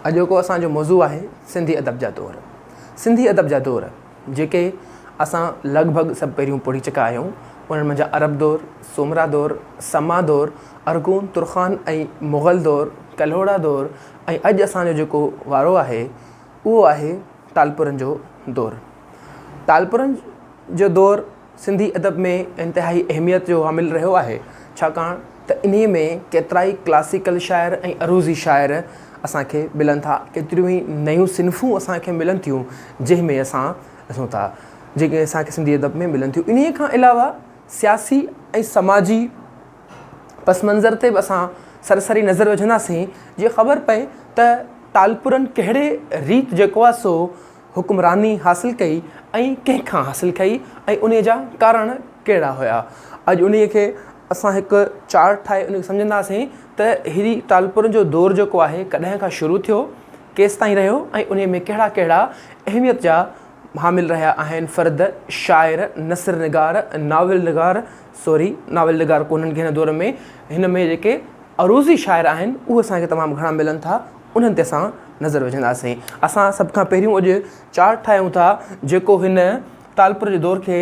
اڄوڪو اسان جو موضوع آهي سنڌي ادب جا دور. سنڌي ادب جا دور جيڪي اسان لڳ ڀڳ سڀ پيريون پڙهي چڪا آهيون انهن منجهان عرب دور، سومرا دور، سما دور، ارغون، ترخان ۽ مغل دور، ڪلهوڙا دور ۽ اڄ اسان جو جيڪو وارو آهي اهو آهي ٽالپرن جو دور. ٽالپرن جو دور سنڌي ادب ۾ انتهائي اهميت جو حامل رهيو آهي، ڇاڪاڻ ته انهيء ۾ ڪيترائي ڪلاسيڪل شاعر ۽ عروضي شاعر اسان کي ملن ٿا، ڪيتريون ئي نيون صنفون اسان کي ملن ٿيون، جنهن ۾ اسان ڏسون ٿا، جيڪي اسان کي سنڌي ادب ۾ ملن ٿيون. انهيء کان علاوه سياسي ۽ سماجي پس منظر تي به اسان سرسري نظر وجهنداسين، جيئن خبر پئي ته ٽالپرن ڪهڙي ريت جيڪو آهي سو حڪمراني حاصل ڪئي ۽ ڪنهن کان حاصل ڪئي ۽ انهي جا ڪارڻ ڪهڙا هيا اڄ انهي کي اسان هڪ چارٽ ٺاهي انهي کي سمجهنداسين ته هيري ٽالپر جو دور جيڪو آهي ڪڏهن کان شروع ٿيو ڪيستائين رهيو ۽ انهي ۾ ڪهڙا ڪهڙا اهميت جا حامل رهيا آهن فرد شاعر نثر نگار ناول نگار سوري ناول نگار ڪونهن ڪنهن دور ۾ هن ۾ جيڪي عروضي شاعر آهن اهي اسان کي تمام گهڻا ملن ٿا انهن تي اسان نظر وجهنداسين. اسان سڀ کان پهريون اڄ چارٽ ٺاهيون ٿا جيڪو هن ٽالپر جي دور کي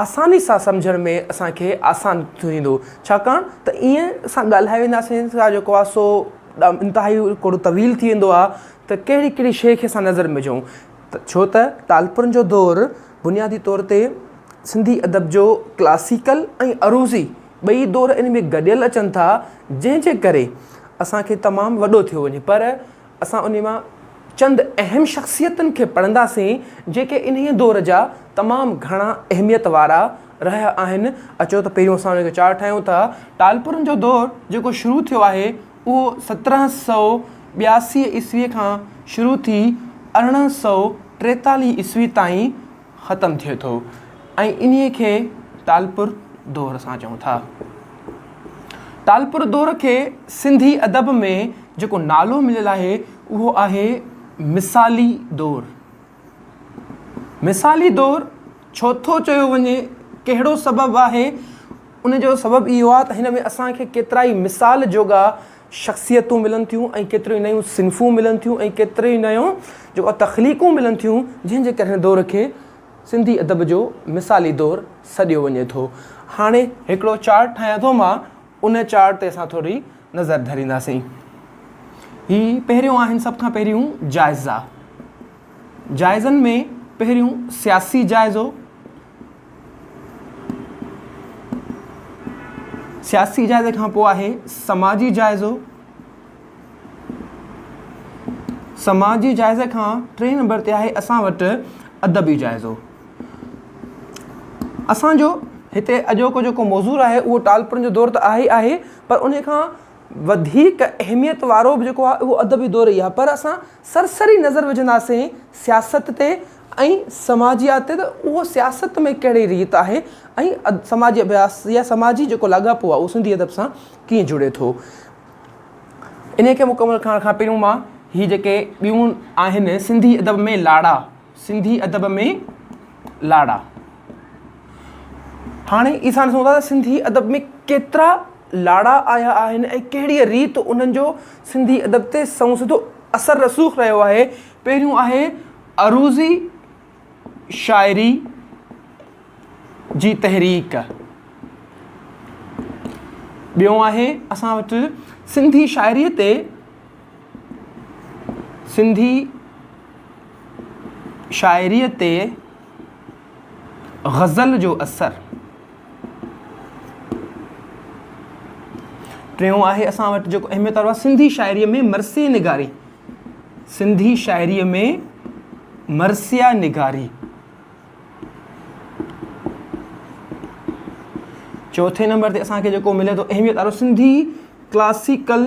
آساني سان سمجهڻ ۾ اسان کي آسان ٿيندو ڇاڪاڻ ته ائين اسان ڳالهائي وينداسين ته جيڪو آهي سو انتهائي ڪوڙو طويل ٿي ويندو آهي ته ڪهڙي ڪهڙي شيء کي اسان نظر ۾ وجهون ته ڇو ته ٽالپرن جو دور بنيادي طور تي سنڌي ادب جو ڪلاسيڪل ۽ عروضي ٻئي دور ان ۾ گڏيل اچن ٿا جنهن جي ڪري اسان کي تمام وڏو ٿيو وڃي پر اسان انهي مان چند اهم شخصيتن کي پڙهنداسين جيڪي انهي دور جا تمام گهڻا اهميت وارا رهيا آهن اچو ته پهريون اسان ان جو چارٽ ٺاهيون ٿا ٽالپرن جو دور جيڪو شروع ٿيو آهي اهو سترهن سؤ ٻياسي عيسوي کان شروع ٿي ارڙهن سؤ ٽيتالهه عيسوي تائين ختم ٿئي ٿو ۽ انهيء کي ٽالپر دور اسان چئون ٿا. ٽالپر دور کي سنڌي ادب ۾ جيڪو نالو مليل آهي اهو آهي مثالي دور. مثالي دور ڇو ٿو چيو وڃي ڪهڙو سبب آهي ان جو سبب اهو آهي ته هن ۾ اسان کي ڪيترائي مثال جوڳا شخصيتون ملن ٿيون ۽ ڪيتريون ئي نيون صنفون ملن ٿيون ۽ ڪيتريون ئي نيون جيڪو تخليقون ملن ٿيون جنهن جي ڪري هن دور کي سنڌي ادب جو مثالي دور سڏيو وڃي ٿو هاڻي هڪڙو چارٽ ٺاهيان ٿو مان ان چارٽ تي اسان ٿوري نظر ڌرينداسين هي پهريون آهن سڀ کان پهريون جائزا جائزن ۾ پهريون سياسي جائزو سياسي جائزي کان پوء آهي سماجي جائزو. سماجي جائزي کان ٽئين نمبر تي آهي اسان وٽ ادبي جائزو. اسان جو هتي اڄوڪو جيڪو موضوع آهي اهو ٽالپرن جو دور ته آهي آهي پر ان کان وڌيڪ اهميت وارو به جيڪو آهي اهو ادبي دور ئي آهي پر اسان سرسري نظر وجهنداسين سياست تي ۽ سماجيات تي ته اهو سياست ۾ ڪهڙي ريت آهي ۽ سماجي اڀياس يا سماجي جيڪو لاڳاپو آهي اهو سنڌي ادب سان ڪيئن جڙي ٿو. انهيء کي مڪمل ڪرڻ کان پهريون مان هي جيڪي ٻيون آهن سنڌي ادب ۾ لاڙا. سنڌي ادب ۾ لاڙا. هاڻي اسان ڏسون ٿا ته سنڌي ادب ۾ ڪيترا لاڙا آيا آهن ۽ ڪهڙيء ريت انهن جو سنڌي ادب تي سنئون سڌو اثر رسوخ رهيو آهي. پهريون آهي عروضي شاعري جي تحريڪ. ٻيون آهي اسان وٽ سنڌي شاعريء تي سنڌي شاعريء تي غزل جو اثر ٽيون آهي اسان وٽ جيڪو اهميت وارو سنڌي شاعريء ۾ مرثي نگاري سنڌي شاعريء ۾ مرثيا نگاري چوٿين نمبر تي اسان کي جيڪو ملي ٿو اهميت وارو سنڌي ڪلاسيڪل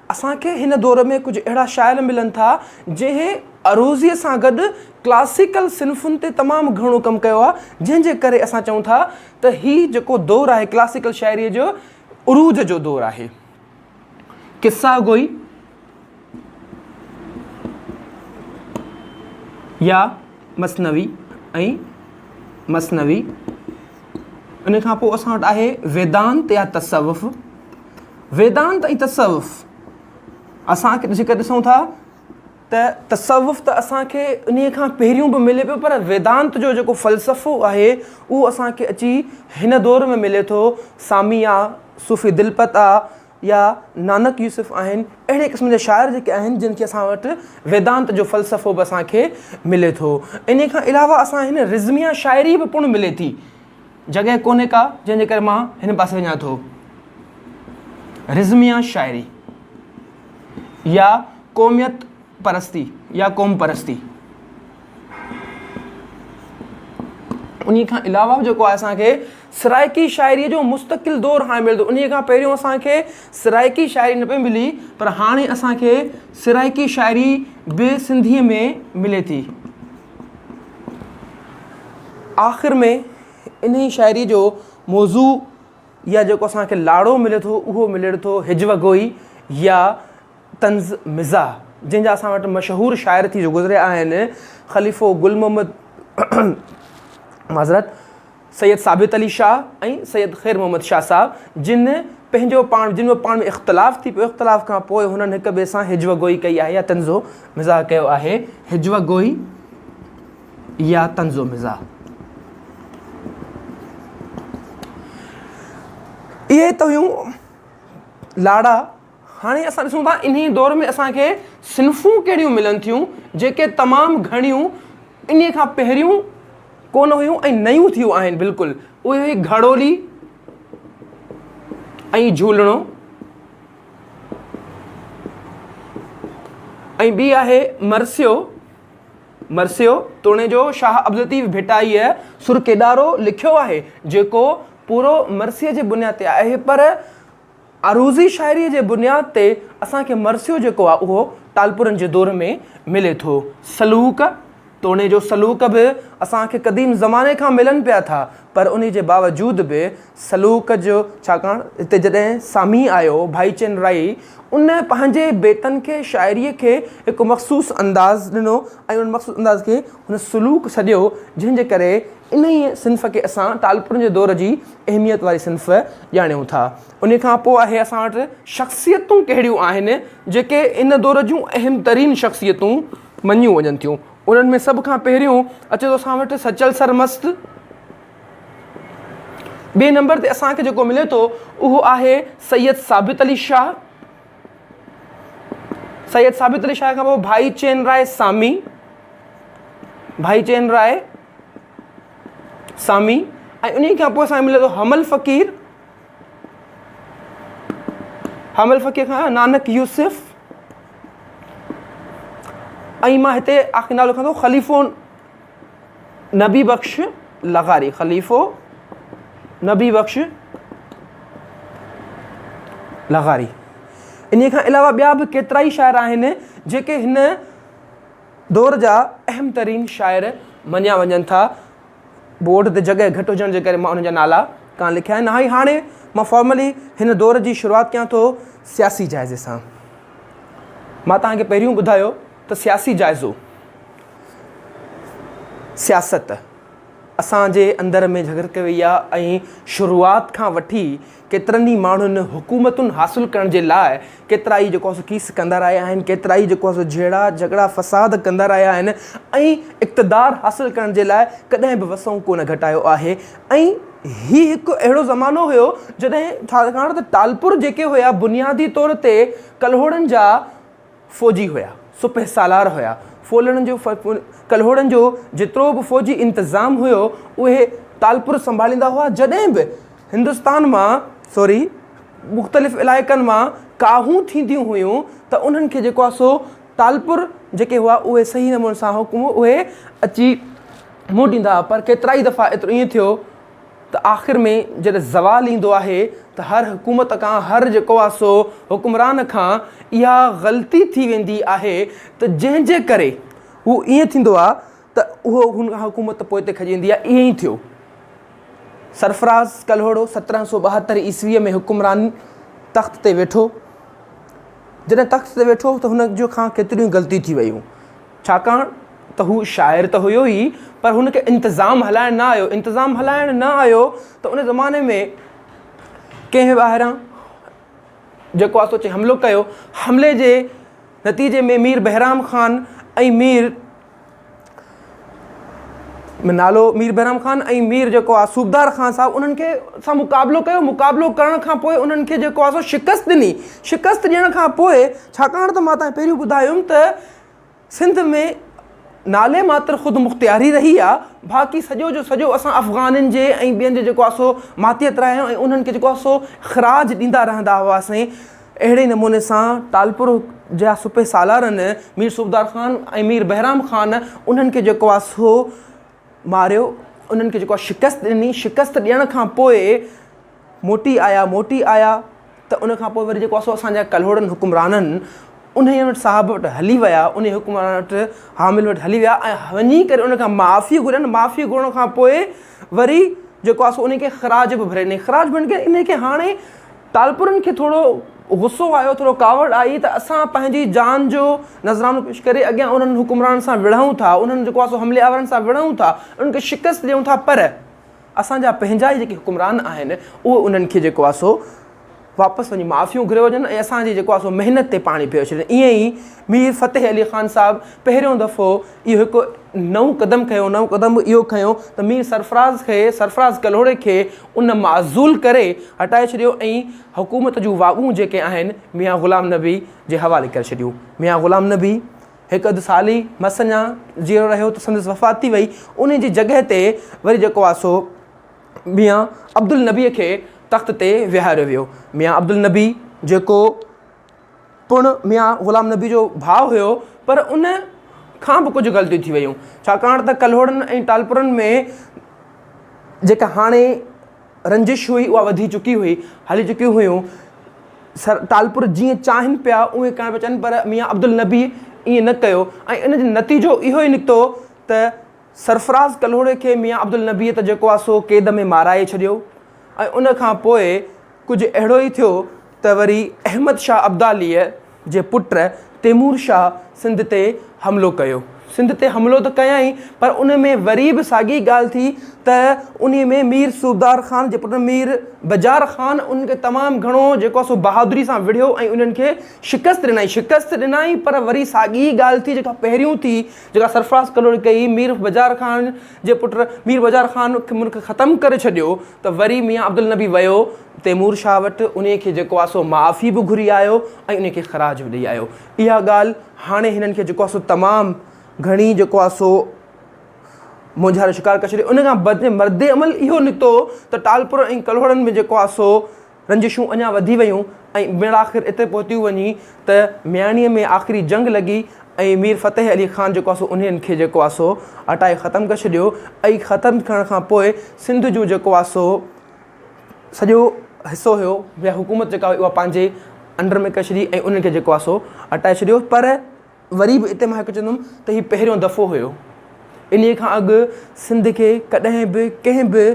اسان کي هن دور ۾ ڪجهه اهڙا شاعر ملن ٿا جنهن عروضي سان گڏ ڪلاسيڪل صنفن تي تمام گهڻو ڪم ڪيو آهي جنهن جي ڪري اسان چئون ٿا ته هي جيڪو دور آهي ڪلاسيڪل شاعري جو عروج جو دور آهي. قصه گوئي يا مثنوي ۽ مثنوي ان کان پوء اسان وٽ آهي ويدانت يا تصوف. ويدانت ۽ تصوف اسان کي جيڪر ڏسون ٿا ته تصوف ته اسان کي ان کان پهريون به ملي پيو پر ويدانت جو جيڪو فلسفو آهي اهو اسان کي اچي هن دور ۾ ملي ٿو سامي آ صوفي دلپت آ يا نانڪ يوسف آهن اهڙي قسم جا شاعر جيڪي آهن جن کي اسان وٽ ويدانت جو فلسفو به اسان کي ملي ٿو ان کان علاوه اسان هن رزميا شاعري به پڻ ملي ٿي جڳهه ڪونهي ڪا جنهن جي ڪري مان هن پاسي وڃان ٿو. رزميه شاعري يا قوميت پرستي يا قوم پرستي انهي کان علاوه جيڪو آهي اسان کي سرائيڪي شاعري جو مستقل دور هاڻي ملي ٿو انهي کان پهريون اسان کي سرائيڪي شاعري نه پئي ملي پر هاڻي اسان کي سرائيڪي شاعري به سنڌي ۾ ملي ٿي. آخر ۾ انهي شاعري جو موضوع يا جيڪو اسان کي لاڙو ملي ٿو اهو ملي ٿو هج و گوئي يا طنز مزاح جنهن جا اسان وٽ مشهور شاعر ٿي گذريا آهن خليفو گل محمد معذرت سيد ثابت علي شاهه ۽ سيد خير محمد شاهه صاحب جن پنهنجو پاڻ جن جو پاڻ ۾ اختلاف ٿي پيو اختلاف کان پوء هنن هڪ ٻئي سان هجوه گوئي ڪئي آهي يا طنزو مزاح ڪيو آهي هجوه گوئي يا طنزو مزاح اهي ته هيون لاڙا هاڻي اسان ڏسون ٿا انهي دور ۾ اسان کي صنفون ڪهڙيون ملن ٿيون جيڪي تمام گهڻيون انهي کان پهريون ڪونه هيون ۽ نيون ٿيون آهن بلڪل اهي هئي گهڙولي ۽ جهولڻو ۽ ٻي آهي مرثيو مرثيو توڻي جو شاهه عبدالطيف ڀٽائيء سر ڪيڏارو لکيو آهي جيڪو پورو مرثيي جي بنياد تي آهي پر عروضي شاعريء جي بنياد تي اسان کي مرثيو جيڪو آهي اهو ٽالپرن جي دور ۾ ملي ٿو. سلوڪ، توڻي جو سلوڪ به اسان کي قديم زماني کان ملن پيا ٿا پر انهي جي باوجود به سلوڪ جو ڇاڪاڻ هتي جڏهن سامي آيو ڀائيچن رائي ان پنهنجي بيتن کي شاعريء کي هڪ مخصوص انداز ڏنو ۽ ان مخصوص انداز کي هن سلوڪ سڏيو جنهن جي ڪري انهيء صنف کي اسان ٽالپرن جي دور جي اهميت واري صنف ڄاڻيون ٿا. ان کان پوء آهي اسان وٽ شخصيتون ڪهڙيون آهن جيڪي ان دور جون اهم ترين شخصيتون مڃيون وڃن ٿيون. انهن ۾ سڀ کان پهريون اچي ٿو اسان وٽ سچل سرمست. ٻئي نمبر تي اسان کي جيڪو ملي ٿو اهو آهي سيد ثابت علي شاهه. سيد ثابت علي شاهه کان پوء ڀائي چين راء سامي، ڀائي چين راء. سامي ۽ انهي کان پوء اسان کي ملي ٿو حمل فقير حمل فقير کان نانڪ يوسف ۽ مان هتي آخر نالو لکان ٿو خليفو نبي بخش لغاري خليفو نبي بخش لغاري ان کان علاوه ٻيا به ڪيترا ئي شاعر آهن جيڪي هن دور جا اهم ترين شاعر مڃيا وڃن ٿا. بورڊ تي جڳهه گهٽ هجڻ جي ڪري مان انهن جا نالا ڪانه لکيا آهن. نهائي هاڻي مان فارملي هن دور جي شروعات ڪيان ٿو سياسي جائزي سان. مان توهان کي پهريون ٻڌايو ته سياسي جائزو، سياست، اسان جي اندر ۾ جهڳرتي وئي آهي ۽ شروعات کان وٺي، ڪيترن ئي ماڻهن حڪومتون حاصل ڪرڻ جي لاء ڪيترا ئي جيڪو سو ڪيس ڪندا رهيا آهن، ڪيترا ئي جيڪو سو جهيڙا، جهڳڙا، فساد ڪندا رهيا آهن ۽ اقتدار حاصل ڪرڻ جي لاء ڪڏهن به وسون ڪونه گهٽايو آهي ۽ هي هڪ اهڙو زمانو هيو جڏهن ڇاڪاڻ ته ٽالپر جيڪي هيا بنيادي طور تي ڪلهوڙن جا فوجي هيا، سپهه سالار هيا، ڦولڻ جو ڪلهوڙن جو جيترو به فوجي انتظام هيو، اهي ٽالپر سنڀاليندا هئا، جڏهن به هندستان مان سوري مختلف علائقن مان ڪاهون ٿينديون هيون ته انهن کي جيڪو آهي سو ٽالپر جيڪي هئا اهي صحيح نموني سان حڪم اهي اچي موٽيندا هئا پر ڪيترائي دفعا ايترو ائين ٿيو ته آخر ۾ جڏهن زوال ايندو آهي ته هر حڪومت کان هر جيڪو آهي سو حڪمران کان اها غلطي ٿي ويندي آهي ته جنهن جي ڪري هو ائين ٿيندو آهي ته اهو هن کان حڪومت پوئتي کڄيندي آهي ائين ئي ٿيو سرفراز ڪلهوڙو سترهن سؤ ٻاهتر عيسويء ۾ حڪمران تخت تي ويٺو جڏهن تخت تي ويٺو ته هن جو کان ڪيتريون ئي غلطيون ٿي ويون. ڇاڪاڻ ته هو شاعر ته هيو ئي پر هن کي انتظام هلائڻ نه آيو، انتظام هلائڻ نه آيو ته ان زماني ۾ ڪنهن ٻاهران جيڪو آسو اچي حملو ڪيو، حملي جي نتيجي ۾ مير بهرام خان ۽ مير نالو مير بهرام خان ۽ مير جيڪو آ صوبدار خان صاحب انهن کي سان مقابلو ڪيو، مقابلو ڪرڻ کان پوء انهن کي جيڪو آسو شڪست ڏني، شڪست ڏيڻ کان پوء ڇاڪاڻ ته ماتان پهريون ٻڌايم ته سنڌ ۾ نالي ماتر خودمختياري رهي آ باقي سڄو جو سڄو اسان افغانن جي ۽ ٻين جو جيڪو آ سو ماتيت رهيو ۽ انهن کي جيڪو آ سو خراج ڏيندا رهندا هئاسين اهڙي نموني سان ٽالپر جا سپه سالارن مير صوبدار خان ۽ مير بهرام خان انهن کي جيڪو آ سو ماريو انهن کي جيڪو آ شڪست ڏني شڪست ڏيڻ کان پوء موٽي آيا موٽي آيا ته ان کان پوء وري جيڪو اسو اسان جا ڪلهوڙن حڪمرانن انهيء وٽ صاحب وٽ هلي ويا انهيء حڪمران وٽ حامل وٽ هلي ويا ۽ وڃي ڪري ان کان معافي گهرين معافي گهرڻ کان پوء وري جيڪو اسو ان کي خراج به ڀري ڏني خراج ڀرڻ کي ان کي هاڻي ٽالپرن کي ٿورو غصو آيو ٿورو ڪاوڙ آئي ته اسان پنهنجي جان جو نذرانو پيش ڪري اڳيان انهن حڪمرانن سان وڙهون ٿا انهن جيڪو اسو حملي آورن سان وڙهون ٿا ان کي شڪست ڏيون ٿا پر اسان جا پنهنجا ئي جيڪي حڪمران آهن اهي انهن کي جيڪو آهي سو واپس وڃي معافيون گهري وڃن ۽ اسان جي جيڪو آهي سو محنت تي پاڻي ڦيري ڇڏين ائين ئي مير فتح علي خان صاحب پهريون دفعو اهو هڪ نئون قدم کنيو نئون قدم اهو کنيو ته مير سرفراز کي سرفراز ڪلهوڙي کي ان معزول ڪري هٽائي ڇڏيو ۽ حڪومت جون واڳون جيڪي آهن ميان غلام نبي جي حوالي ڪري ڇڏيون ميان غلام نبي هڪ اڌ سال ئي مس اڃا جيئرو رهيو ته سندس وفات ٿي وئي. انهيء جي جڳهه تي وري جيڪو آ سو ميان عبدالنبيء کي تخت تي ويهاريو ويو. ميان عبدالنبي جيڪو پڻ ميان غلام نبيء جو ڀاء هيو پر ان کان به ڪجهه غلطيون ٿي ويون ڇاڪاڻ ته ڪلهوڙن ۽ ٽالپرن ۾ جيڪا هاڻي رنجش هئي اها وڌي چڪي هئي، هلي چڪيون هيون، سر ٽالپر جيئن چاهين پيا اونئين ڪرڻ پيا چاهين پر ميان عبدالنبيء ائين نه ڪيو ۽ ان جو نتيجو اهو ئي نڪتو ته سرفراز ڪلهوڙي کي ميان عبدالنبيء ته جيڪو آهي سو قيد ۾ مارائي ڇڏيو ۽ ان کان پوء ڪجهه اهڙو ئي ٿيو ته وري احمد شاهه ابداليء جي پٽ تيمور شاهه سنڌ تي حملو ڪيو. سنڌ تي حملو ته ڪيائين پر ان ۾ وري به ساڳي ڳالهه ٿي ته انهي ۾ مير صوبدار خان جي پٽ مير بجار خان انهن کي تمام گهڻو جيڪو آهي سو بهادري سان وڙهيو ۽ انهن کي شڪست ڏنائين شڪست ڏنائين پر وري ساڳي ڳالهه ٿي جيڪا پهريون ٿي جيڪا سرفراز ڪلهوڙي ڪئي مير بجار خان جي پٽ مير بجار خان کي ملڪ ختم ڪري ڇڏيو ته وري ميان عبدالنبي ويو تيمور شاهه وٽ، انهيء کي جيڪو آهي سو معافي به گهري آيو ۽ انهيء کي خراج به ڏئي آيو. اها ڳالهه هاڻي هنن کي جيڪو آهي سو تمام گهڻي جيڪو آهي سو مونجهاري شڪار ڪري ڇڏي. ان کان بعد مردعمل اهو نڪتو ته ٽالپر ۽ ڪلهوڙن ۾ جيڪو آهي سو رنجشون اڃا وڌي ويون ۽ مڙآخر اتي پهتيون وڃي ته مياڻيء ۾ آخري جنگ لڳي ۽ مير فتح علي خان جيڪو آ سو انهن کي جيڪو آ سو هٽائي ختم ڪري ڇڏيو ۽ ختم ڪرڻ کان پوء سنڌ جون جيڪو آ سو سڄو حصو هيو يا حڪومت جيڪا هئي اها پنهنجي انڊر ۾ ڪري ڇڏي ۽ انهن کي جيڪو آ سو هٽائي ڇڏيو پر وري به اتي مان هڪ چوندم ته هي پهريون دفعو هيو انهي کان اڳ سنڌ کي ڪڏهن به ڪنهن به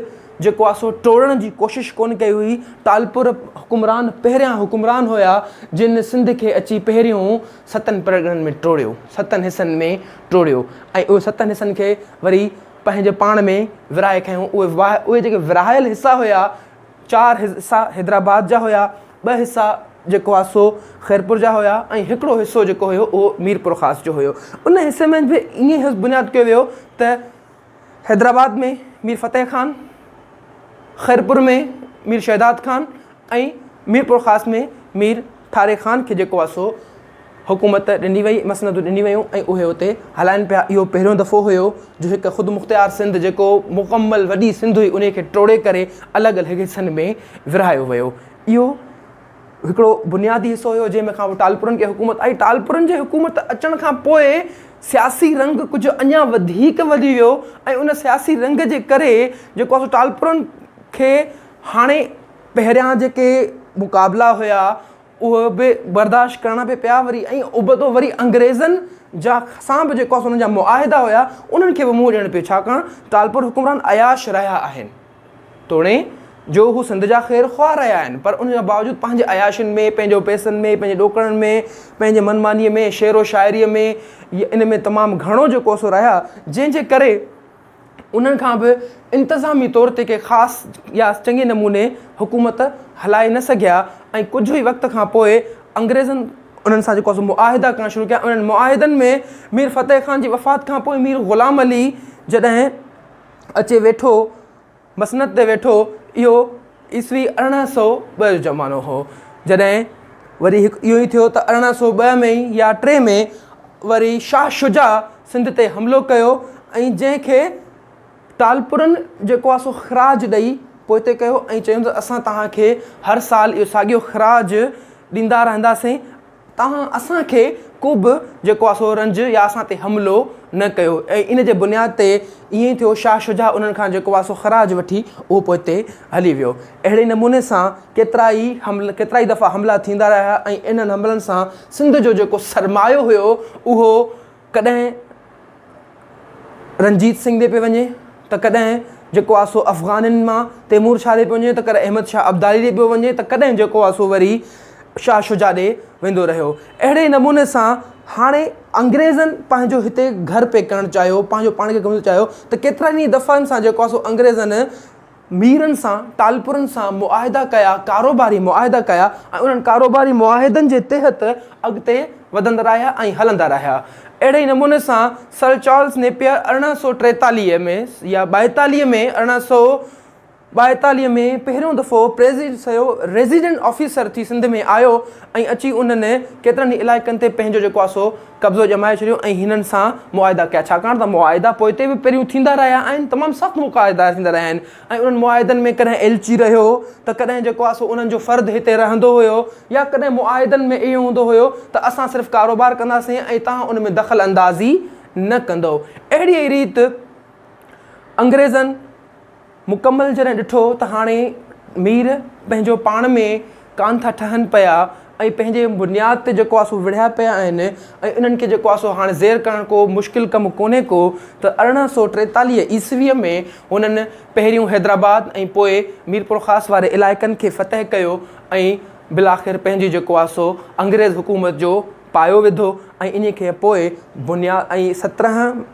جيڪو آ سو ٽوڙڻ جي ڪوشش ڪون ڪئي هئي ٽالپر حڪمران پهريان حڪمران هيا جن سنڌ کي اچي پهريون ستن پرڳڻن ۾ ٽوڙيو ستن حصن ۾ ٽوڙيو ۽ اهي ستن حصن کي وري پنهنجي پاڻ ۾ ورهائي کنيو اهي اهي جيڪي ورهايل حصا هيا چار حصا حيدرآباد جا هيا، ٻه حصا جيڪو آ سو خيرپور جا هيا ۽ هڪڙو حصو جيڪو هيو اهو ميرپورخاص جو هيو. ان حصي ۾ به ائين ئي بنياد ڪيو ويو ته حيدرآباد ۾ مير فتح خان، خيرپور ۾ مير شهداد خان ۽ ميرپورخاص ۾ مير ٺاري خان کي جيڪو آ سو حڪومت ڏني وئي، مسندون ڏنيون ويون ۽ اهي اتي هلائن پيا، اهو پهريون دفعو هيو جو هڪ خودمختيار سنڌ جيڪو مڪمل وڏي سنڌ هئي انهي کي ٽوڙي ڪري الڳ الڳ حصن ۾ ورهايو ويو اهو هڪڙو بنيادي حصو هيو جنهن ۾ کان پوء ٽالپرن کي حڪومت آئي ٽالپرن جي حڪومت اچڻ کان پوء سياسي رنگ ڪجهه اڃان وڌيڪ وڌي ويو ۽ ان سياسي رنگ جي ڪري جيڪو آهي سو ٽالپرن کي هاڻي پهريان جيڪي مقابلا هيا اهو به برداشت ڪرڻا به پيا وري ۽ ابتو وري انگريزن جا سان به جيڪو اسان جا معاهدا هيا انهن کي به منهن ڏيڻ پيو ڇاڪاڻ ٽالپر حڪمران عياش رهيا آهن توڻي جو هو سنڌ جا خير خواهه رهيا آهن پر ان جا باوجود پنهنجي عياشين ۾ پنهنجو پئسن ۾ پنهنجي ڏوڪڙن ۾ پنهنجي من مانيء ۾ شعر و شاعريء ۾ ان ۾ تمام گهڻو جيڪو سو رهيا جنهن جي ڪري انهن کان به انتظامي طور تي ڪي خاص يا چڱي نموني حڪومت هلائي نه سگهيا ۽ ڪجهه ئي وقت کان پوء انگريزن انهن سان جيڪو سو معاهدا ڪرڻ شروع ڪيا انهن معاهدن ۾ مير فتح خان جي وفات کان پوء مير غلام علي جڏهن اچي ويٺو مسند تي ويٺو، اهو عيسوي ارڙهن سؤ ٻه جو زمانو هو، جڏهن وري هڪ اهو ئي ٿيو ته ارڙهن سؤ ٻه ۾ يا ٽي ۾ وري شاهه شجاع سنڌ تي حملو ڪيو ۽ جنهن کي ٽالپرن جيڪو آهي سو خراج ڏئي پوئتي ڪيو ۽ چيو ته اسان توهان کي هر سال اهو ساڳيو خراج ڏيندا رهنداسين توهان اسان کي ڪوبه جيڪو آهي سو رنج يا اسان تي حملو نه ڪيو ۽ ان جي بنياد تي ائين ٿيو شاهه شجاع انهن کان جيڪو آهي سو خراج وٺي اهو پوئتي هلي ويو اهڙي نموني سان ڪيترائي حمل ڪيترائي دفعا حملا ٿيندا رهيا ۽ انهن حملن سان سنڌ جو جيڪو سرمايو هيو اهو ڪڏهن رنجيت سنگهه ڏي پئي وڃي ته ڪڏهن جيڪو آهي سو افغانين مان تيمور شاهه ڏي پيو وڃي ته ڪڏهن احمد شاهه ابدالي ڏي پيو وڃي ته ڪڏهن جيڪو آهي سو وري شاهه شجاع ڏي ويندو رهيو اهڙي نموني سان هاڻي انگريزن پنهنجو هتي گهر پئي ڪرڻ چاهيو پنهنجو پاڻ کي گهمڻ چاهيو ته ڪيترن ئي دفعن سان جيڪو آهي سو انگريزن ميرن سان ٽالپرن سان معاهدا ڪيا، ڪاروباري معاهدا ڪيا ۽ انهن ڪاروباري معاهدن جي تحت اڳتي وڌندا رهيا ۽ هلندا رهيا. اهڙي ئي نموني سان سر چارلس نيپيئر ارڙهن سؤ ٽيتاليهه ۾ يا ٻائيتاليهه ۾ ارڙهن سؤ ٻائيتاليهه ۾ پهريون دفعو ريزيڊنٽ آفيسر ٿي سنڌ ۾ آيو ۽ اچي انهن ڪيترن ئي علائقن تي پنهنجو جيڪو آهي سو قبضو ڄمائي ڇڏيو ۽ هنن سان معاهدا ڪيا ڇاڪاڻ ته معاهدا پوئتي به پهريون ٿيندا رهيا آهن تمام سخت مقاهدا ٿيندا رهيا آهن ۽ انهن معاهدن ۾ ڪڏهن ايلچي رهيو ته ڪڏهن جيڪو آهي سو انهن جو فرد هتي رهندو هيو يا ڪڏهن معاهدن ۾ اهو هوندو هيو ته اسان صرف ڪاروبار ڪنداسين ۽ توهان ان ۾ دخل اندازي نه ڪندؤ اهڙيء ئي ريت انگريزن مڪمل جڏهن ڏٺو ته هاڻي مير پنهنجو پاڻ ۾ ڪانه ٿا ٺهن پيا ۽ پنهنجي بنياد تي جيڪو آسو وڙهيا پيا آهن ۽ انهن کي جيڪو آسو هاڻي زير ڪرڻ ڪو مشڪل ڪم ڪونهي ڪو ته ارڙهن سؤ ٽيتاليهه عيسويء ۾ هنن پهريون حيدرآباد ۽ پوء ميرپورخاص واري علائقن کي فتح ڪيو ۽ بالاخر پنهنجي جيڪو آسو انگريز حڪومت جو پايو وڌو ۽ انهي کي پوء بنياد ۽ سترهن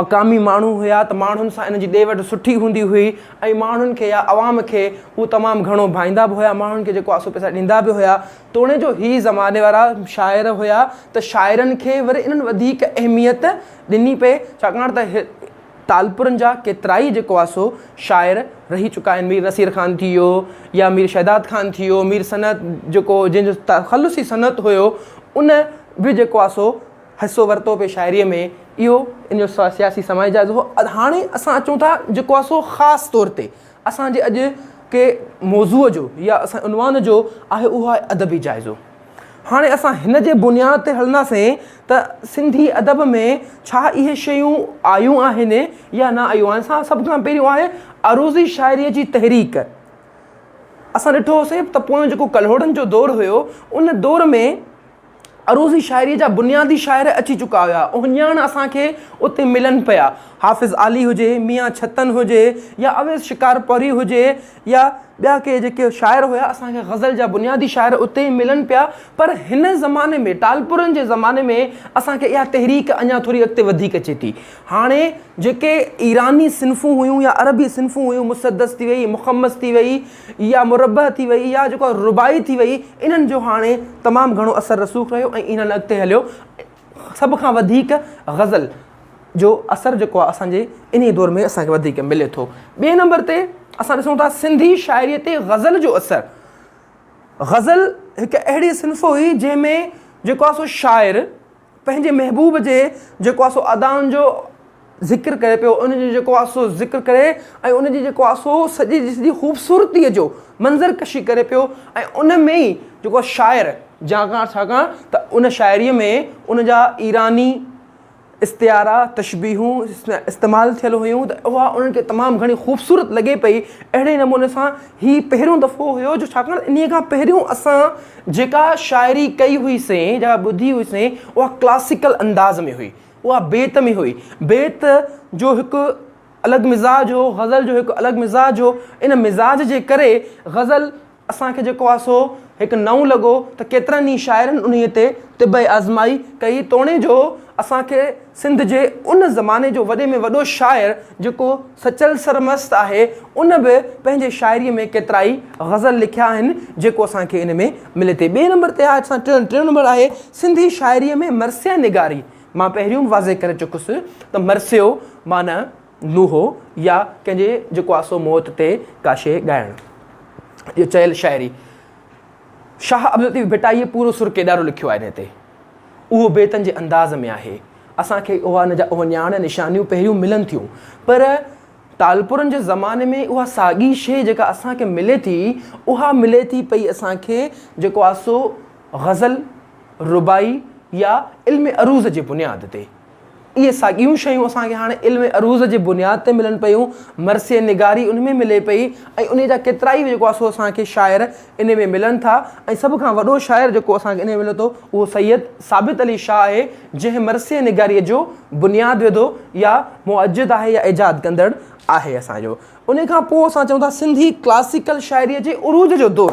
مقامي ماڻهو هيا ته ماڻهن سان ان جي ڏي وٺ سٺي هوندي هئي ۽ ماڻهن کي يا عوام کي هو تمام گهڻو ڀائيندا به هيا ماڻهن کي جيڪو آسو پئسا ڏيندا به هيا توڻيجو هي زماني وارا شاعر هيا ته شاعرن کي وري انهن وڌيڪ اهميت ڏني پئي ڇاڪاڻ ته ٽالپرن جا ڪيترائي جيڪو آ سو شاعر رهي چڪا آهن مير نصير خان ٿي ويو يا مير شهداد خان ٿي ويو مير صنعت جيڪو جنهن جو تخلصي صنعت هيو ان به جيڪو آ سو حصو ورتو پئي شاعريء ۾ اهو ان جو سياسي سماجي جائزو هو. هاڻي اسان اچون ٿا جيڪو آهي سو خاص طور تي اسان جي اڄ ڪي موضوع جو يا اسان عنوان جو آهي اهو آهي ادبي جائزو. هاڻي اسان هن جي بنياد تي هلنداسين ته سنڌي ادب ۾ ڇا اهي شيون آيون آهن يا نه آيون آهن. اسان سڀ کان پهريون آهي عروضي شاعريء جي تحريڪ. اسان ڏٺو هوسي ته پويون جيڪو ڪلهوڙن جو دور هيو ان دور ۾. عروضي شاعريء جا بنيادي شاعر اچي چڪا هيا، اهي ڄڻ اسان کي اتي ملن پيا. حافظ عالي هجي، ميان ڇتن هجي يا اويس شڪارپوري هجي يا ٻيا ڪي جيڪي شاعر هيا، اسان کي غزل جا بنيادي شاعر اتي ئي ملن پيا. پر هن زماني ۾ ٽالپرن جي زماني ۾ اسان کي اها تحريڪ اڃا ٿوري اڳتي وڌيڪ اچي ٿي. هاڻي جيڪي ايراني صنفون هيون يا عربي صنفون هيون، مسدس ٿي وئي، مخمس ٿي وئي، يا مربع ٿي وئي يا جيڪو رباعي ٿي وئي انهن جو هاڻي تمام گهڻو اثر رسوخ رهيو ۽ انهن اڳتي هليو سڀ کان وڌيڪ غزل جو اثر جيڪو آهي اسانجي انهي دور ۾ اسانکي وڌيڪ ملي ٿو ٻئي نمبر تي اسان ڏسون ٿا سنڌي شاعري تي غزل جو اثر غزل هڪ اهڙي صنف هئي جنهن ۾ جيڪو آهي سو شاعر پنهنجي محبوب جي جيڪو آهي سو ادائن جو ذڪر ڪري پيو ان جو جيڪو آهي سو ذڪر ڪري ۽ ان جي جيڪو آهي سو سڄي جي سڄي خوبصورتيء جو منظر ڪشي ڪري پيو ۽ ان ۾ ئي جيڪو آهي شاعر جاکان ڇاڪاڻ ته ان شاعريء ۾ ان جا ايراني استعارا تشبيهون استعمال ٿيل هيون ته اها انهن کي تمام گهڻي خوبصورت لڳي پئي اهڙي نموني سان هي پهريون دفعو هيو جو ڇاڪاڻ انهيء کان پهريون اسان جيڪا شاعري ڪئي هئي سين، جيڪا ٻڌي هئي سين، اها ڪلاسيڪل انداز ۾ هئي. اها بيت ۾ هئي. بيت جو هڪ الڳ مزاج هو، غزل جو هڪ الڳ مزاج هو. ان مزاج جي ڪري غزل اسان کي جيڪو آهي سو هڪ نئون لڳو ته ڪيترن ئي شاعرن انهيء تي طب آزمائي ڪئي توڻي جو اسان کي سنڌ جي ان زماني جو وڏي ۾ وڏو شاعر جيڪو سچل سرمست آهي ان به پنهنجي شاعري ۾ ڪيترائي غزل لکيا آهن جيڪو اسان کي ان ۾ ملي ٿي ٻئي نمبر تي آهي اسان ٽيون ٽيون نمبر آهي سنڌي شاعري ۾ مرثيه نگاري مان پهريون به واضح ڪري چڪس ته مرثيو معنيٰ نوحو يا ڪنهن جي جيڪو آهي سو موت تي ڪا شيء ڳائڻ جي چيل شاعري شاهه عبداللطيف ڀٽائيء پورو سر ڪيڏارو لکيو آهي ان تي. اهو بيتن جي انداز ۾ آهي. اسان کي اها ان جا اهي نياڻ نشانيون پهريون ملن ٿيون پر ٽالپرن جي زماني ۾ اها ساڳي شيء جيڪا اسان کي ملي ٿي اها ملي ٿي پئي اسان کي جيڪو آهي سو غزل، رباعي يا علم عروض جي بنياد تي. اهي ساڳيون شيون اسان کي هاڻ علم عروض جي بنياد تي ملن پيون، مرثيه نگاري ان ۾ ملي پئي ۽ انهي جا ڪيترائي جيڪو آهي سو اسان کي شاعر انهي ۾ ملن ٿا ۽ سڀ کان وڏو شاعر جيڪو اسان کي انهي ۾ ملي ٿو اهو سيد ثابت علي شاهه آهي جنهن مرثيه نگاري جو بنياد وڌو يا مؤجد آهي يا ايجاد ڪندڙ آهي اسان جو انهي کان پوء اسان چئون ٿا سنڌي ڪلاسيڪل شاعري جي عروج جو دور.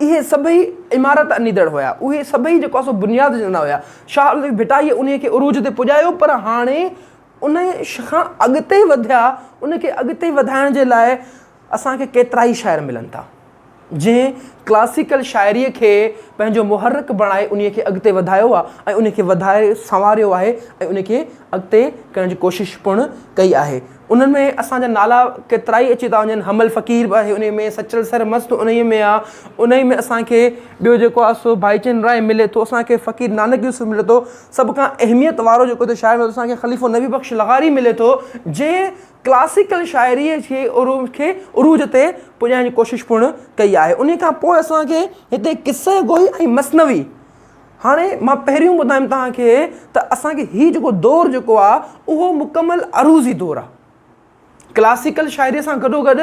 اهي سڀئي عمارت اڏيندڙ هيا، اهي سڀئي جيڪو آهي سو بنياد وجهندڙ هيا. شاهه الطيف ڀٽائيء انهيء کي عروج تي پڄايو پر هاڻي ان کان اڳتي وڌيا، ان کي اڳتي وڌائڻ جي لاء اسان کي ڪيترائي شاعر ملن ٿا، جنهن ڪلاسيڪل شاعريء کي پنهنجو محرڪ بڻائي انهيء کي اڳتي وڌايو آهي ۽ ان کي وڌائي سنواريو آهي ۽ ان کي اڳتي ڪرڻ جي ڪوشش پڻ ڪئي آهي. انهن ۾ اسان جا نالا ڪيترائي اچي ٿا وڃن حمل فقير به آهي انهي ۾ سچل سر مست انهي ۾ آ انهي ۾ اسان کي ٻيو جيڪو آ سو ڀائيچند راء ملي ٿو اسان کي فقير نانڪ يوسف ملي ٿو سڀ کان اهميت وارو جيڪو هتي شاعر اسان کي خليفو نبي بخش لغاري ملي ٿو جنهن ڪلاسيڪل شاعري کي عروج کي عروج تي پڄائڻ جي ڪوشش پڻ ڪئي آهي انهي کان پوء اسان کي هتي قصه گوئي ۽ مثنوي هاڻي مان پهريون ٻڌايم توهان کي ته اسان کي هي جيڪو دور جيڪو آ اهو مڪمل عروضي دور آ. ڪلاسيڪل شاعريء سان گڏو گڏ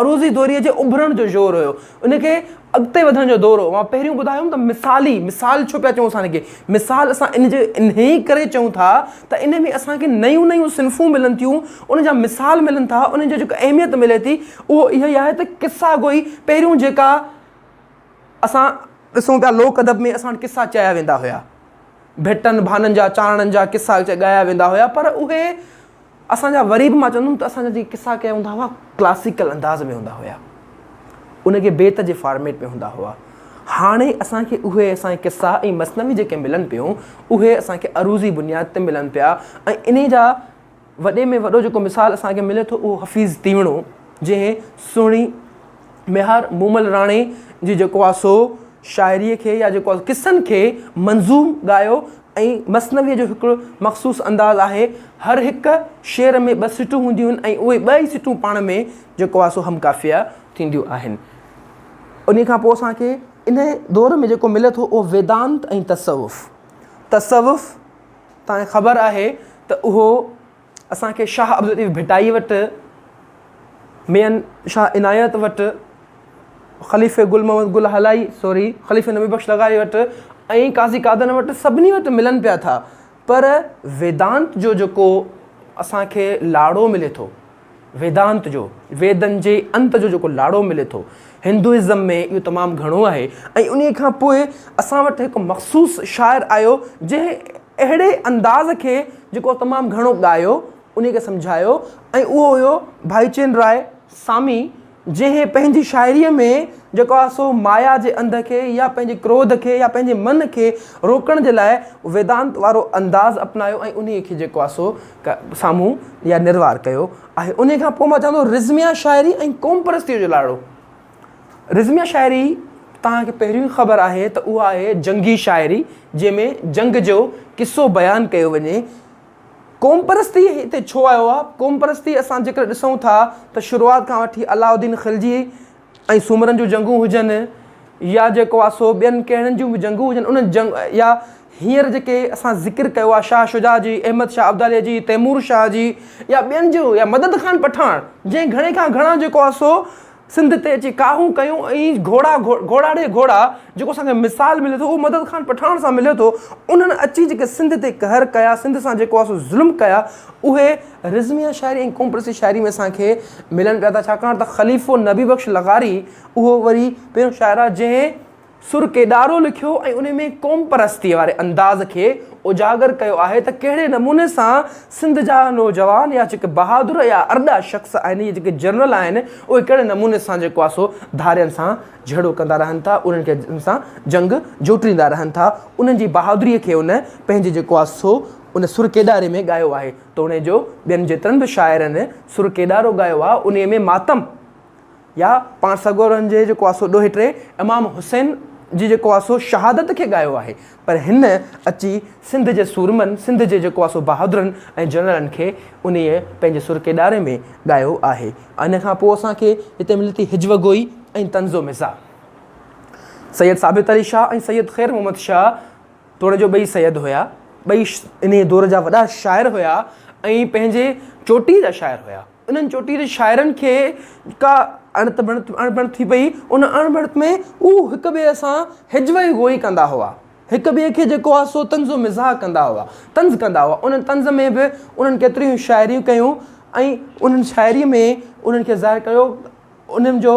عروضي دوريء جي اڀرڻ جو زور هيو. ان کي اڳتي وڌڻ جو دور هو. مان پهريون ٻڌايوم ته مثالي، مثال ڇو پيا چئون اسان ان کي؟ مثال اسان ان جي انهيء ڪري چئون ٿا ته ان ۾ اسان کي نيون نيون صنفون ملن ٿيون، ان جا مثال ملن ٿا، انهن جي جيڪا اهميت ملي ٿي اهو اها ئي آهي ته قصه گوئي پهريون جيڪا اسان ڏسون پيا لوڪ ادب ۾ اسان وٽ قصا چيا ويندا هيا ڀٽن ڀانن جا چانڙن جا قصا ڳايا ويندا هيا پر اهي اسانجا وري به مان چوندم ته اسانجا جي قصا ڪيا ويندا هئا ڪلاسيڪل انداز ۾ هوندا هيا ان کي بيت جي فارميٽ ۾ هوندا هئا هاڻي اسانکي اهي اسان جي قصا ۽ مثنوي جيڪي ملن پيون اهي اسانکي عروضي بنياد تي ملن پيا ۽ انهي جا وڏي ۾ وڏو جيڪو مثال اسان کي ملي ٿو اهو حفيظ تيوڻو جنهن سهڻي ميهار مومل راڻي جي جيڪو آهي سو شاعري کي يا جيڪو قصن کي منظوم ڳايو ۽ مثنويء جو هڪڙو مخصوص انداز آهي هر هڪ شعر ۾ ٻه سٽون هونديون آهن ۽ اهي ٻه ئي سٽون پاڻ ۾ جيڪو آهي سو هم قافيه ٿينديون آهن انهي کان پوء اسان کي انهي دور ۾ جيڪو ملي ٿو اهو ويدانت ۽ تصوف تصوف توهان کي خبر آهي ته اهو اسان کي شاهه عبداللطيف ڀٽائي وٽ، ميان شاهه عنايت وٽ، خليفي گل محمد گل هالائي، سوري، خليفي نبي بخش لغاري وٽ ۽ قاضي قادن وٽ سڀني وٽ ملن پيا ٿا پر ويدانت جو جيڪو اسان کي لاڙو ملي ٿو، ويدانت جو، ويدن جي انت جو جيڪو لاڙو ملي ٿو، هندوئزم ۾ اهو تمام گهڻو آهي ۽ انهيء کان پوء اسان وٽ هڪ مخصوص شاعر آيو، جنهن اهڙي انداز کي جيڪو تمام گهڻو ڳايو، انهيء کي سمجهايو ۽ اهو هيو ڀائيچند راء سامي. جنهن پنهنجي شاعريء ۾ جيڪو آهي سو مايا جي انڌ کي يا پنهنجي ڪروڌ کي يا پنهنجي من کي روڪڻ جي لاء ويدانت وارو انداز اپنايو ۽ انهيء کي جيڪو آهي سو سامهون يا نروار ڪيو آهي. انهيء کان پوء مان چوان ٿو رزميه شاعري ۽ قوم پرستيء جو لاڙو. رزميه شاعري توهان کي پهريون ئي خبر آهي ته اها آهي جنگي شاعري جنهن ۾ جنگ جو قصو بيان ڪيو وڃي. قومپرستي هتي ڇو آيو آهي؟ قومپرستي اسان جيڪڏهن ڏسون ٿا ته شروعات کان وٺي علاء الدين خلجي ۽ سومرن جون جنگون هجن يا جيڪو آهي سو ٻين ڪهڙن جون به جنگون هجن انهن جنگ يا هينئر جيڪي اسان ذڪر ڪيو آهي شاهه شجاع جي، احمد شاهه ابداليء جي، تيمور شاهه جي يا ٻين جون يا مدد خان پٺاڻ جنهن گهڻي کان گهڻا جيڪو آهي سو سنڌ تي اچي ڪاهون ڪيون ۽ گهوڙا گهوڙا ڙي گهوڙا جيڪو اسان کي مثال ملي ٿو اهو مدد خان پٺاڻ سان ملي ٿو انهن اچي جيڪي سنڌ تي قهر ڪيا سنڌ سان جيڪو آهي سو ظلم ڪيا اهي رزميه شاعري ۽ قوم پرستي شاعري ۾ اسان کي ملن پيا ٿا ڇاڪاڻ ته خليفو نبي بخش لغاري اهو وري پهريون شاعر آهي جنهن سر ڪيڏارو لکيو ۽ ان ۾ قومپرستيء واري انداز کي اجاگر ڪيو آهي ته ڪهڙي نموني سان سنڌ جا نوجوان يا جيڪي بهادر يا ارڏا شخص آهن يا جيڪي جنرل آهن اهي ڪهڙي نموني سان جيڪو آهي سو ڌارين سان جهيڙو ڪندا رهن ٿا انهن کي ان سان جنگ جوٽيندا رهن ٿا انهن جي بهادريء کي ان پنهنجي جيڪو آهي سو ان سر ڪيڏاري ۾ ڳايو آهي توڻي جو ٻين جيترن به شاعرن سر ڪيڏارو ڳايو آهي انهيء ۾ ماتم يا پاڻ سڳورن جي جيڪو آسو ڏوهي ٽي امام حسين جي جيڪو آسو شهادت کي ڳايو آهي پر هن اچي سنڌ جي سورمن سنڌ جي جيڪو آسو بهادرن ۽ جنرلن کي انهي پنهنجي سرڪي ڏاري ۾ ڳايو آهي ان کان پوء اسان کي هتي ملي ٿي هجوه گوئي ۽ طنز و مزاح سيد ثابت علي شاهه ۽ سيد خير محمد شاهه توڻيجو ٻئي سيد هيا ٻئي انهي دور جا وڏا شاعر هيا ۽ پنهنجي چوٽي جا شاعر هيا. انهن چوٽيلي شاعرن کي ڪا اڻت بڻت ٿي پئي، ان اڻ بڻت ۾ هو هڪ ٻئي سان هجوئي گوئي ڪندا هئا، هڪ ٻئي کي جيڪو آهي سو طنز و مزاح ڪندا هئا، طنز ڪندا هئا، ان طنز ۾ به انهن ڪيتريون ئي شاعريون ڪيون ۽ انهن شاعريء ۾ انهن کي ظاهر ڪيو. انهن جو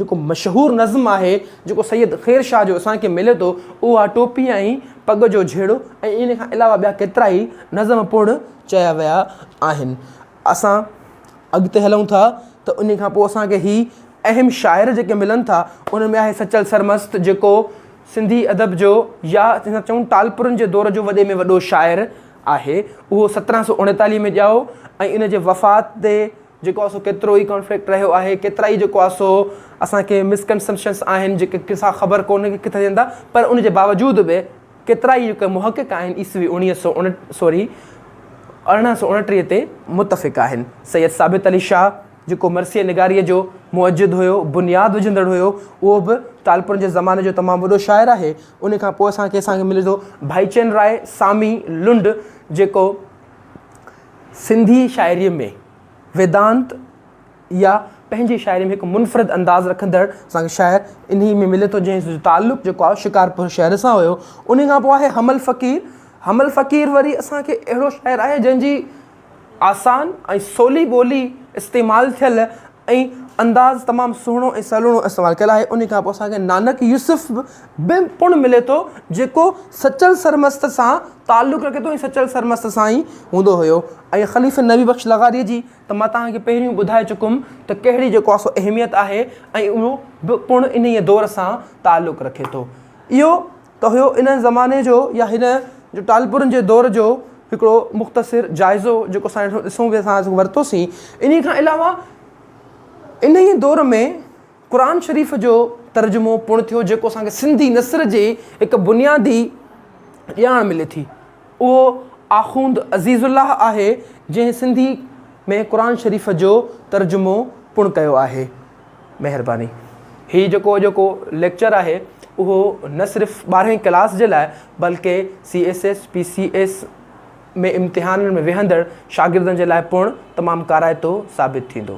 جيڪو مشهور نظم آهي، جيڪو سيد خير شاهه جو اسان کي ملي ٿو، اهو آهي ٽوپي ۽ پڳ جو جهيڙو ۽ ان کان علاوه ٻيا ڪيترا ئي نظم پڻ چيا ويا آهن. اسان اڳتي هلون ٿا ته ان کان پوء اسان کي هي اهم شاعر جيڪي ملن ٿا، انهن ۾ آهي سچل سرمست جيڪو سنڌي ادب جو يا جنهن کي چئون ٽالپرن جي دور جو وڏي ۾ وڏو شاعر آهي. اهو سترهن سؤ اڻيتاليهه ۾ ڄائو ۽ ان جي وفات تي جيڪو آ سو ڪيترو ئي ڪانفلڪٽ رهيو آهي ڪيترا ئي جيڪو آ سو اسان کي مس ڪنسپشنس آهن جيڪي ڪسا خبر ڪونهي ڪي ڪٿي ٿين ٿا پر ان جي باوجود به ڪيترا ئي جيڪي محقق آهن عيسوي اوڻيهه سؤ اڻ سوري ارڙهن سؤ اڻٽيهه تي متفق آهن سيد ثابت علي شاهه جيڪو مرثيه نگاريء جو مؤجد هيو بنياد وجهندڙ هيو اهو به ٽالپرن جي زماني جو تمام وڏو شاعر آهي ان کان پوء اسان کي اسان کي ملي ٿو ڀائيچند راء سامي لنڊ جيڪو سنڌي شاعريء ۾ ويدانت يا پنهنجي شاعريء ۾ هڪ منفرد انداز رکندڙ سان شاعر انهيء ۾ ملي ٿو جنهن جو تعلق جيڪو آهي شڪارپور شهر سان هيو انهيء کان پوء آهي حمل فقير حمل فقير وري اسان کي اهڙو شاعر آهي جنهن جي آسان ۽ سولي ٻولي استعمال ٿيل ۽ انداز تمام سهڻو ۽ سلوڻو استعمال ڪيل آهي انهي کان پوء اسان کي نانڪ يوسف به پڻ ملي ٿو جيڪو سچل سرمست سان تعلق رکي ٿو ۽ سچل سرمست سان ئي هوندو هيو ۽ خليفي نبي بخش لغاريء جي ته مان توهان کي پهريون ٻڌائي چڪم ته ڪهڙي جيڪو آهي سو اهميت آهي ۽ اهو به پڻ انهيء دور سان تعلق رکي ٿو اهو ته هيو ان زماني جو يا هن جو ٽالپرن جي دور جو هڪڙو مختصر جائزو جيڪو اسان هيٺ ڏسون پيا اسان آج ورتو سين انهي کان علاوه انهي دور ۾ قرآن شريف جو ترجمو پڻ ٿيو جيڪو اسان کي سنڌي نثر جي هڪ بنيادي ڄاڻ ملي ٿي اهو آخوند عزيز الله آهي جنهن سنڌي ۾ قرآن شريف جو ترجمو پڻ ڪيو آهي مهرباني. هي جيڪو اڄوڪو ليڪچر آهي اهو نه صرف ٻارهين ڪلاس جي لاء بلڪه C S S P C S ۾ امتحانن ۾ ويهندڙ شاگردن جي لاء پڻ تمام ڪارائتو ثابت ٿيندو.